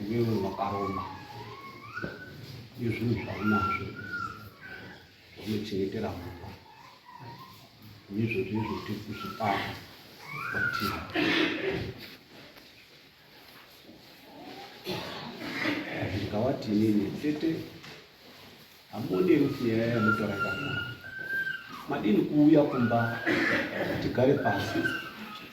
Iwewe wakaromba izvinhu zvaunazvo unochengetera mumba ndizvo zvezvo tiri kuzvipara kwatiri ndikawati inini tete Hamude kuti nyaya yamutora yakanaka. Madini kuuya kumba tigare pasi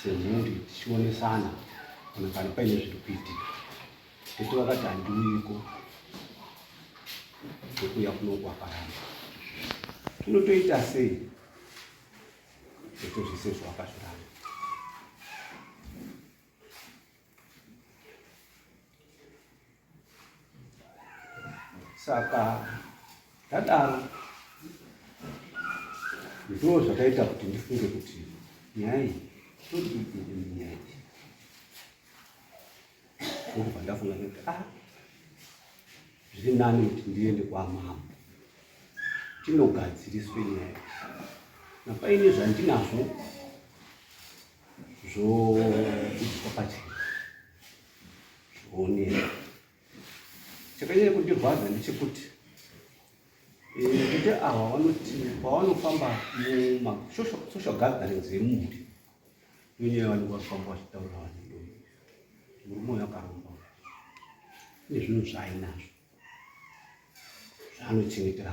semhuri tichionesana kana kana paine zviri kuitika. Tete vakati handiuyiko kwekuuya kuno kwakaramba. Tinotoita sei? Tete zvese zvawakazviramba. saka tadaro ndoo zvakaita kuti ndifunge kuti nyaya iyi todiinyaya iyi ndokubva ndafunga kuti a ah, zviri nani kuti ndiende kwamambo tinogadziriswe nyaya iyi napaine zvandinazvo zvokuitwa pachena zvionera chakanyanya kundirwadza ndechekuti kuti eh, ava vanoti pavanofamba mumasocial gatherings emumhuri nonyaya vanenge vafamba vachitaura vanhu murume uyo akaromba nezvinhu zvaainazvo zvaanochengetera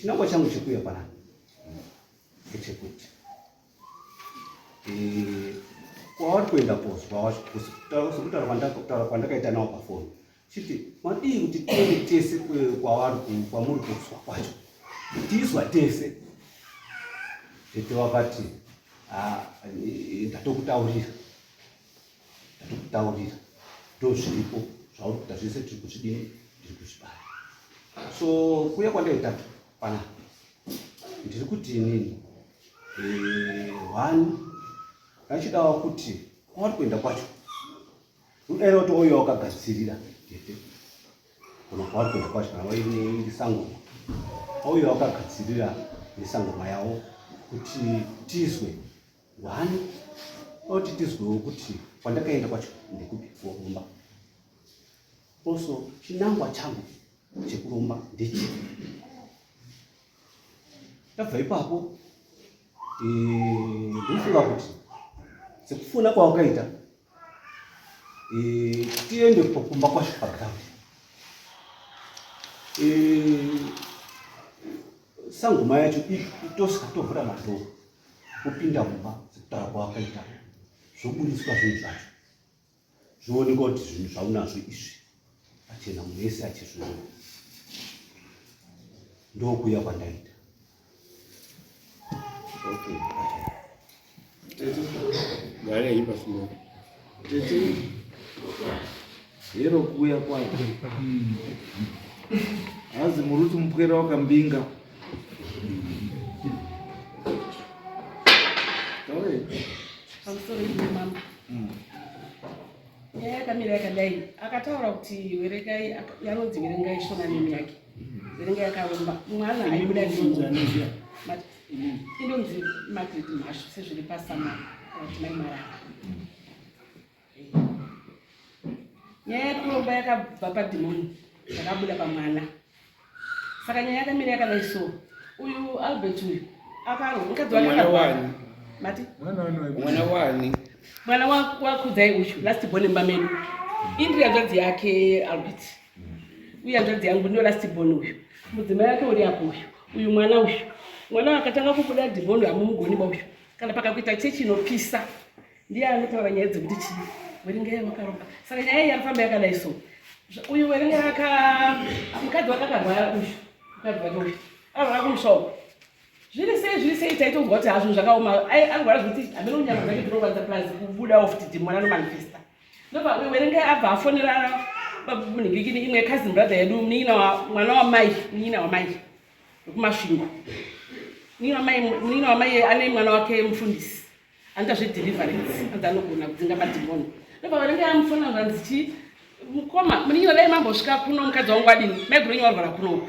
Chinangwa changu chekuuya panapa ndechekuti kwavari kuenda kozwa sekutaura kwandakutaura kwandakaita nawo pafoni chiti madii kuti tiende tese kwavari kwamuri kozwa kwacho tizwa tese tete vakati ndatokutaurira ndokutaurira ndozviripo zvauri kuda zvese tiri kuzvidini ndiri kuzvibaya so kuya kwandaita pana ndiri kuti inini hwani eh, ndachidawo kuti kwawari kuenda kwacho udaira kuti oyo wakagadzirira tete kana kwawari kuenda kwacho kana wairi sangoma oyo wakagadzirira nesangoma yavo kuti tizwe Wani oti tizwewo kuti kwandakaenda kwacho ndekupi kuromba. Also chinangwa changu chekuromba ndechi. Tabva ipapo eh, ndofunga kuti sekufuna kwawakaita eh, tiende kumba kwacho paground. Eh, sangoma yacho itoska tovhura madhoo kupinda mumba sekutaura kwawakaita zvoburitswa zvinhu zvacho zvinooneka kuti zvinhu zvaunazvo izvi achena munhu wese achizviona ndokuya kwandaita okay. Tete hero kuuya kwayo hanzi muruti mupwera wakambinga nyaya yakamira yakadai akataura kuti verengai yanonzi verengai shona nemi yake verengai yakaromba mwana aibuda inonzi magret mhashu sezviri pasama atimai marara nyaya yakuromba yakabva padhimoni yakabuda pamwana saka nyaya yakamira yakadai so uyu albert uyu akaroakamwana wani mwana wakudzai uyu last born mba medu indiri yadzadzi yake albert uye hanzvadzi yangu ndiyo last born uyu mudzimai yake uri apo uyu uyu mwana uyu mwana akatanga kubuda dhimoni hamumugoni ba uyu kana pakakuita chechi inopisa ndiye anotaura nyaya dzekuti chii werengai makaroka saka nyaya iyi arifamba yakadai so uyu werengai aka mukadzi wake akarwara uyu mukadzi wake uyu arwara kumusha uku zviri sei zviri sei taitonzwa kuti hazvinhu zvakaoma arwara zvekuti hameno nyama dzake dzinorwadza plus kubuda ofti dhimoni anomanifesta Ndoba werengai abva afonera munhingikini imwe cousin brother yedu munin'ina mwana wamai munin'ina wamai wekumasvingo munin'ina wamai ane mwana wake mufundisi anoita zvedeliverance anzi anogona kudzinga madhimoni ndoba waringe amufona vanzi chii mukoma munin'ina dai mambosvika kuno mukadzi wangu adini maigona nyawarwara kunoku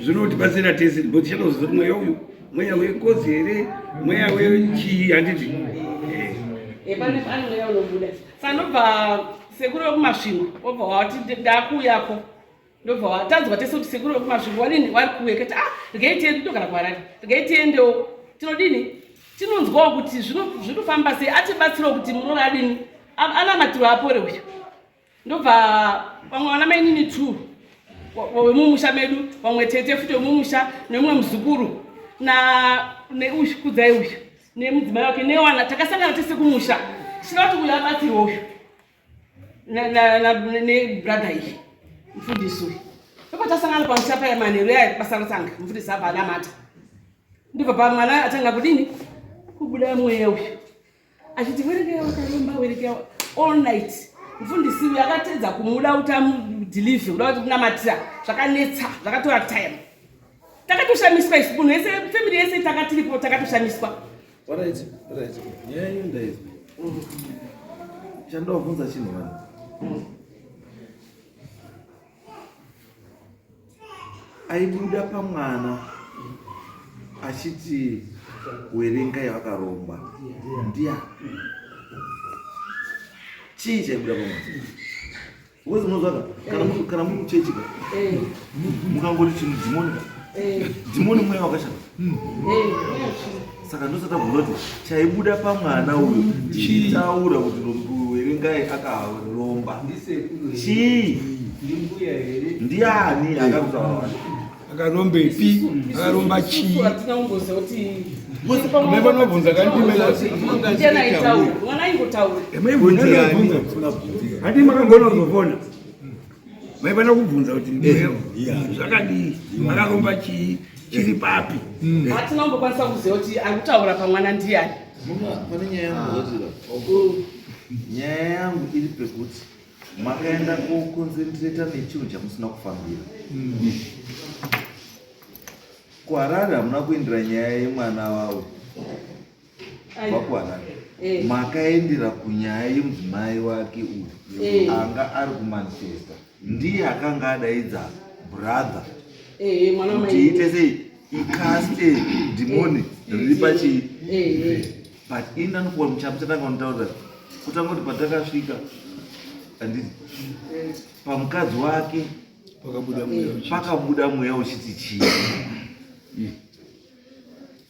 zvinotibatsira tese bo tichatoziva kuti mweya uyu mweya wengozi here mweya wechii handiti sanobva sekuru wekumasvingo obva wati ndakuuyako ndobva watadzwa tese kuti sekuru wekumasvingo wanini wari kuuya kati ah regai tiende togara kuharari regai tiendewo tinodini tinonzwawo kuti zvinofamba sei atibatsirawo kuti munoona adini anamatirwa apore uyu ndobva vamwe vana mainini two wemumusha medu vamwe tete futi wemumusha nemumwe muzukuru neuyu kudzai uyu nemudzimai wake newana takasangana tese kumusha tichida kuti uyu abatsirwe uyu nebradha iyi mfundisi uyu ndopatasangana pamusha paya manheru yaya basa rotanga mfundisi abva anamata ndibva pamwana atanga kudini kubuda mweya uyu achiti werekera wakaromba werekera all night mfundisi uyu akatedza kumuda kuti amudhilivhe kuda kuti kunamatira zvakanetsa zvakatora time takatoshamiswa isi munhu yese family yese takatiripo takatoshamiswa chandovabvunza chinhu vanhu aibuda pamwana achiti werenga yavakaromba ndiya chii chaibuda pamwana uko zvinozvaka kana muri kuchechi ka eh. mukangoti chinhu dhimoni ka eh. dhimoni mweya wakashata eh. saka ndosatakuona kuti chaibuda pamwana uyu chiitaura kuti ndokuverengai akaromba chii ndiani akarutaura akaromba ipi akaromba chii mevanobvunza kandimeaingotaura handi makangonozovona Maifanira kubvunza kuti ndiwe zvakadii? Makaromba chii? Chiri papi? Hatina kumbokwanisa kuziva kuti ari kutaura pamwana ndiyani. Pane nyaya yangu nyaya yangu iri pekuti makaenda koconcentrata nechinhu chamusina kufambira kuharare hamuna kuindira nyaya yemwana wavo vakuwana eh. makaendera kunyaya yemudzimai wake uyu eh. anga ari kumanchester ndiye akanga adaidza brother eh, kuti ite sei ikaste dhimoni riri pachii but ini ndanokuwa muchapo chatanga unotaura kutanga kuti patakasvika andii pamukadzi wake pakabuda mweya uchiti chii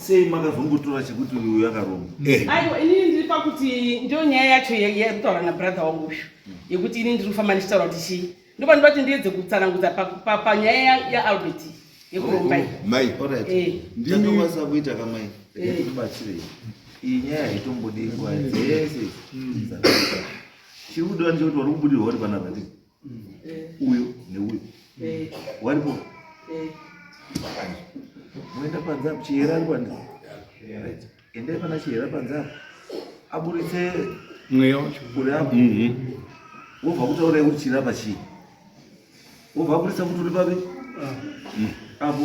sei makazongotora chekuti uyu yakaromba eh. aiwa inini ndiri pakuti ndo nyaya yacho yekutaura nabrother wangu uyu yekuti ini ndiri kufamba ndichitaura kuti chii ndopanoda kuti ndiedze kutsanangudza panyaya yaalbert yekuromba mai eh. ndinokwanisa kuita kamai ndikubatsirei iyi nyaya haitombodi nguva dzese chiri kudiwa ndechekuti wari kubudirwa uri panapa ndii uyo neuyo waripo moenda panze apo chihera ari kwani endai pana chihera panze apo aburitse mweya wacho uri apo mhm. wobva kutaura yekuti chirapa chii wobva aburitsa kuti uri papi ah. mm. apo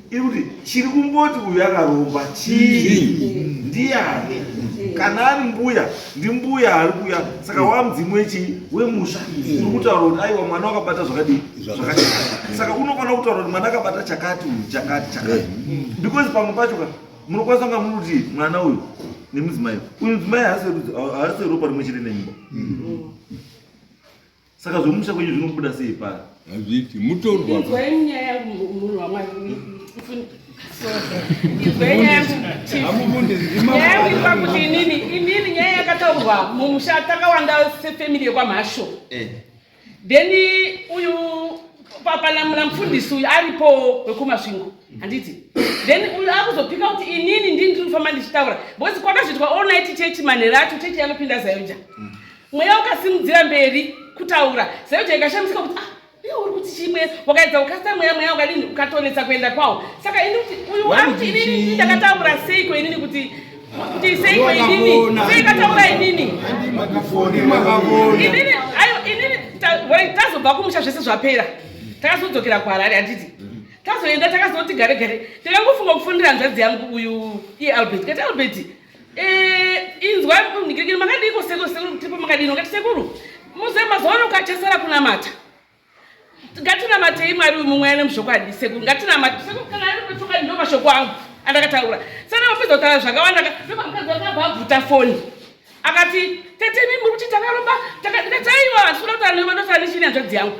Ikuti chiri kumboti uyu akaromba chii ndiani kana ari mbuya ndimbuya ari kuya saka wamudzimu wechii wemusha uri kutaura kuti aiwa mwana wakabata zvakadii zvakati saka unofanira kutaura kuti mwana akabata chakati uyu chakati chakati because pamwe pacho ka munokwanisa kunga muri kuti mwana uyu nemudzimai uyu mudzimai haasi ropa rimwe chete nemba Saka zvomusha kwenyu zvinobuda sei pari? Hazviti mutorwa. Inzwai nyaya yangu munhu waMwari. Inzwai nyaya yangu. Hamubundi ndima. Nyaya yangu ikupa kuti inini inini nyaya yakataurwa mumusha takawanda sefamily yekwamhasho. Eh. Then uyu papana muna mfundisi uyu aripo wekumasvingo handiti then uyu akuzopika kuti inini ndini ndiri kufamba ndichitaura because kwakazvitwa all night chechi manhera acho chechi yanopinda zayoja mm. mweya ukasimudzira mberi kutaura zaijo ikashamisika kuti ah, iwe uri kuti chimwe wakaedza kukasita mweya mweya ukadini ukatonetsa kuenda kwawo saka ini kuti uyu wakuti inini ndakataura seiko inini kuti kuti seiko inini seikataura inini inini ayo inini tazobva kumusha zvese zvapera takazodzokera kuharare handiti tazoenda takazoti gare gare takangofunga kufonera hanzvadzi yangu uyu ialbert kati albert Eh, inzwai mnigirigiri makadiko sekuru sekuru kutipo makadino ngati sekuru muze mazuva ano kachasara kunamata ngatinamatei mwari uyu mumwe ane muzvokwadi sekuru ngatinamate sekuru kana ari kuchokwadi ndo mashoko angu andakataura sana mapedza kutaura zvakawanda ndoba mukadzi wakabva abvuta foni akati tete mi muri kuti takaromba ndikati aiwa ndisikuda kutaura ndotaura nechini hanzvadzi yangu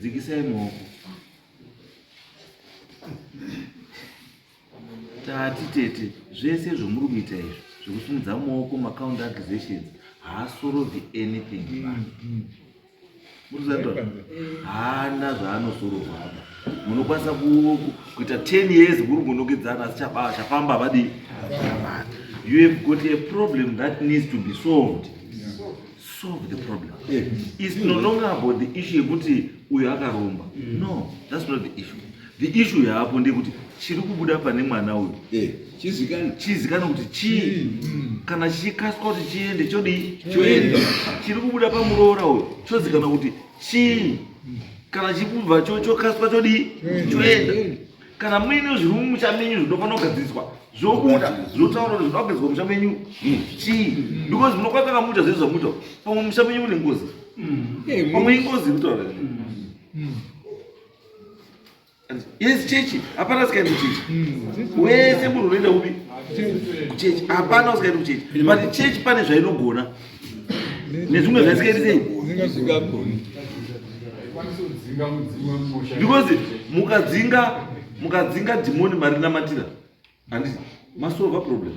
Dzikisai maoko. Tati tete zvese zvomuri kuita izvi zvekusimudza maoko macounter accusations haasorovi anything vanhu. Murikuzanzwa? Haana zvaanosorova apa. Munokwanisa kuita 10 years kuri kunokedzana asi chabaa chafamba havadii. You have got a problem that needs to be solved. solve the problem yeah. is no longer about the issue yekuti uyo akaromba mm. no that's not the issue the issue yaapo ndeyekuti chiri kubuda pane mwana uyu eh, chizikana kuti chii mm. kana chichikaswa kuti chiende chodii choenda chiri kubuda pamuroora uyu chozikana kuti chii mm. kana chikubva chokaswa chodii choenda kana muine zviri mumusha menyu zvinofanira kugadziriswa zvobuda zvotaura kuti zvinoda kugadziriswa musha menyu chii because munokwaa kana muita zvezvo zvamuita pamwe musha menyu mune ngozi pamwe ingozi kutaura yes chechi hapana sikaendi kuchechi wese munhu unoenda upi kuchechi hapana usikaendi kuchechi but chechi pane zvainogona nezvimwe zvaisikaiti sei because mukadzinga mukadzinga dhimoni marinamatira handi masolva problem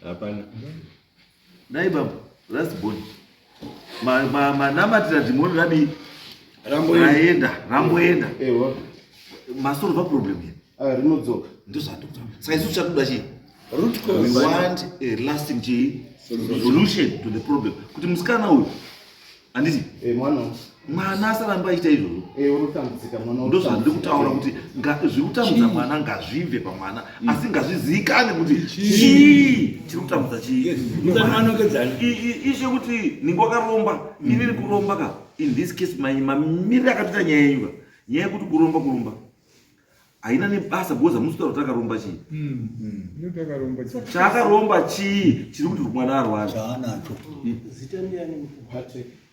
hapana dai baba last boni manamatira dhimoni radii raenda ramboenda masoro va problem here ah, rinodzoka ndozvatokuta saka isu tichatoda chii want a lasting chii solution to the problem kuti musikana uyu handiti eh, mwana asaramba aita izvozvo eh, ndozvandiri kutaura kuti zviri kutambudza mwana ngazvibve pamwana mm. asi ngazviziikane kuti chii chiri kutambudza chiiishe kuti ninge wakaromba mm. inini kuromba ka in this case mamiriri akatoita nyaya yenyu ka nyaya yekuti kuromba kuromba haina nebasa because hamusi kutaura kuti akaromba chii mm. chaakaromba chii chiri kuti mwana arwara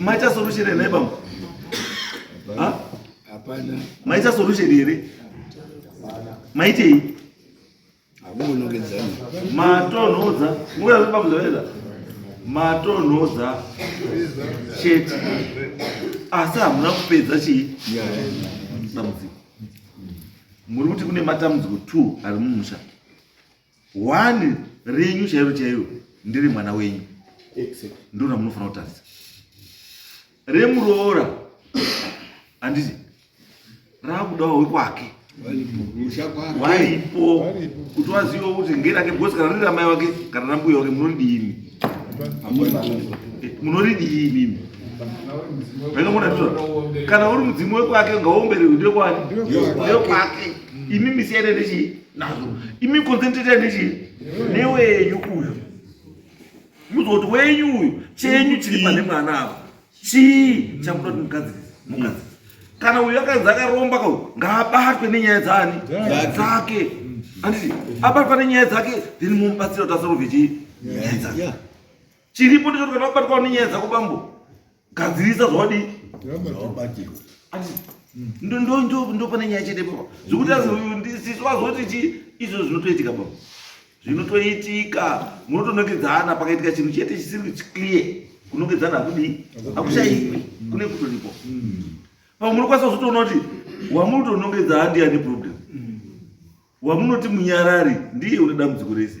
Maita solution here baba? Ha? Hapana. Maita solution here? Maitei? Hakunonogedzana. Matonhodza. Nguva yekuti baba zvaveza. Matonhodza. Chete. Asi hamuna kupedza chii? Dambudziko. Muri kuti kune matambudziko 2 ari mumusha. one renyu chairo chairo ndiri mwana wenyu ndiro ramunofanira kutarisa remuroora handiti raakudawo wekwake waipo kuti waziva kuti ngerake because kana riri ramai wake kana rambuya wake munoridiimi munoridiimi mimi vainongona zvizo kana uri mudzimu wekwake ngaomberewe ndekwani ndekwake imi misiyane nechii nazvo imi concentrate nechii newenyu uyu muziva kuti wenyu uyu chenyu chiri pane mwana ava chii chakuda kuti mugadzirisa mugadzirisa kana uyu akanzi akaromba ka ngaabatwe nenyaya dzani dzake anditi abatwa nenyaya dzake then momubatsira kuti asarove chii nyaya dzake chiripo ndechoti kana wabatwawo nenyaya dzako bambo gadzirisa zvawadii ndopane nyaya chete baba zvekuti asisu vazoti chi izvo zvinotoitika baba zvinotoitika munotonongedzana pakaitika chinhu chete chisiri clear kunongedzana hakudii hakushaiwi kune kutoripo pamwe munokwanisa kuzotoona kuti wamunotonongedza handiya neproblem wamunoti munyarari ndiye une dambudziko rese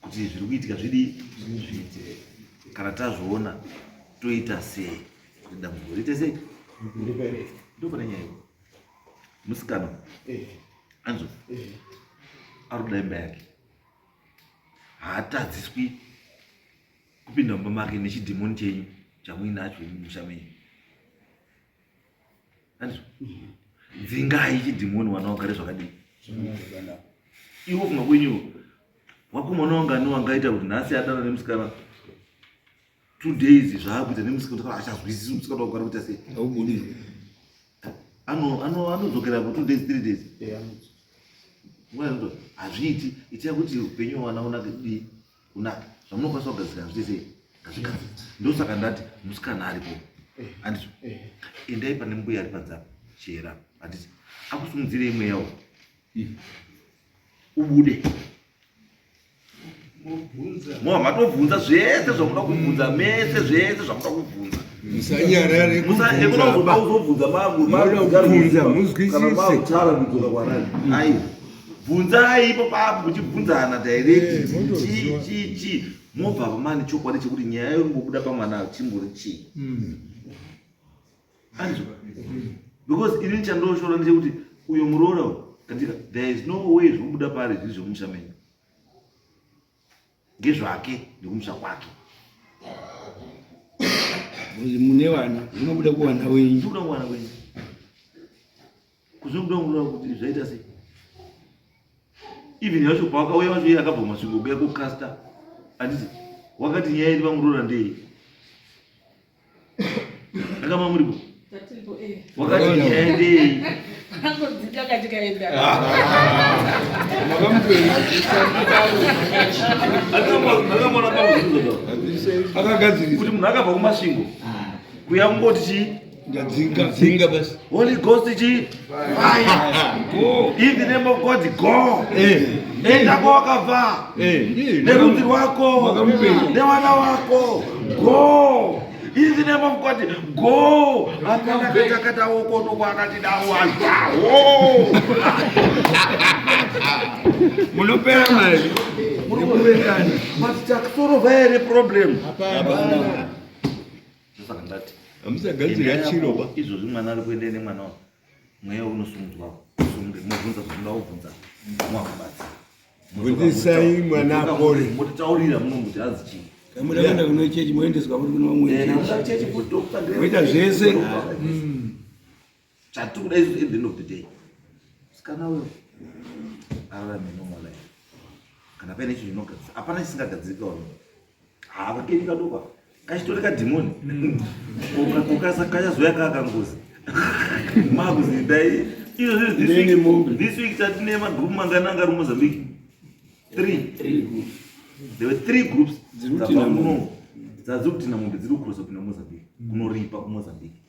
kuti zviri kuitika zvidi zviite kana tazviona toita sei kuti dambudziko riite sei ndopane nyaya iyo musikana eh. anzo eh. ari kuda imba yake haatadziswi kupinda mumba make nechidhimoni chenyu chamuinacho musha menyu dzingai chidhimoni wana wagare zvakadii iwo kuma kwenyu wakomana wangani wangaita kuti nhasi adana nemusikana two days zvaakuita nemusikana achazwisisi musikana wakugara kuita sei aubudii anodzokera po two days three days hazviiti itia kuti upenyu wana unake dii kunaka zvamunokwanisa kugadzira zviite sei ngazvigadzire ndosaka ndati musikana aripo andizvo endai pane mbuya ari panzapa chera handiti akusumudzire imwe yawo ubude mo matobvunza zvese zvamuda kubvunza mese zvese zvamuda kubvunza musanyarareunozoda kuzobvunza maguauzobvunza muzwisise kana mautara kudzoka kwanani aiwa bvunzai ipo papo muchibvunzana direct chii chii chii mobva vamani chokwadi chekuti nyaya yorimbobuda pamwana chimbori chii hmm. anzwa because ini ndichandoshora ndechekuti uyo muroora katika there is no way zvinobuda pari zviri zvemusha menyu ngezvake nekumusha kwake mune vana zvinobuda kuwana wenyu zvinobuda kuwana wenyu kuzobuda kuona kuti zvaita sei even yacho pawakauya wacho iye akabva masvingo kuya kukasta anditi wakati nyaya iri vamuroora ndei Akama muripo. Tatiripo eh. Wakati ndiende. Tango dzika katika enda. Akagadzirisa. Kuti munhu akabva kumasvingo. Kuya kungoti chii? Ndadzinga. Ndadzinga basi. Holy Ghost chii? In the name of God, go. Nenda kwa wakavaa nerudzi rwako newana wako go in the name of God go akana kata kata woko noko akati dawo azawo munopera mari munokurekana but takusorova here problem hapana ndosaka ndati hamusagadzira chiro ba izvozvi mwana ari kuenda ine mwana wako mweya unosumudzwa usunge mobvunza zvokuda kubvunza mwakubatsa bvunzisai mwana apore motitaurira munomuti azi chii kamuda kuenda kuno chechi moendeswa kuti kuno vamwe eh, chechi moita zvese Chatiri kuda izvo at the end of the day. Sikana uyo ararame normal life. Kana paine chinhu chinogadzirika, hapana chisingagadzirika wani. Hava keni kadoka. Kachitore kadhimoni. Mm. Ukasa kachazoya kakangozi. Makuzi dai izvo this week this week tatine magroup mangana angari Mozambique. Three. Three groups. There were three groups. Dziri kuti na Mozambique. Dziri kuti na Mozambique. Kunoripa ku Mozambique.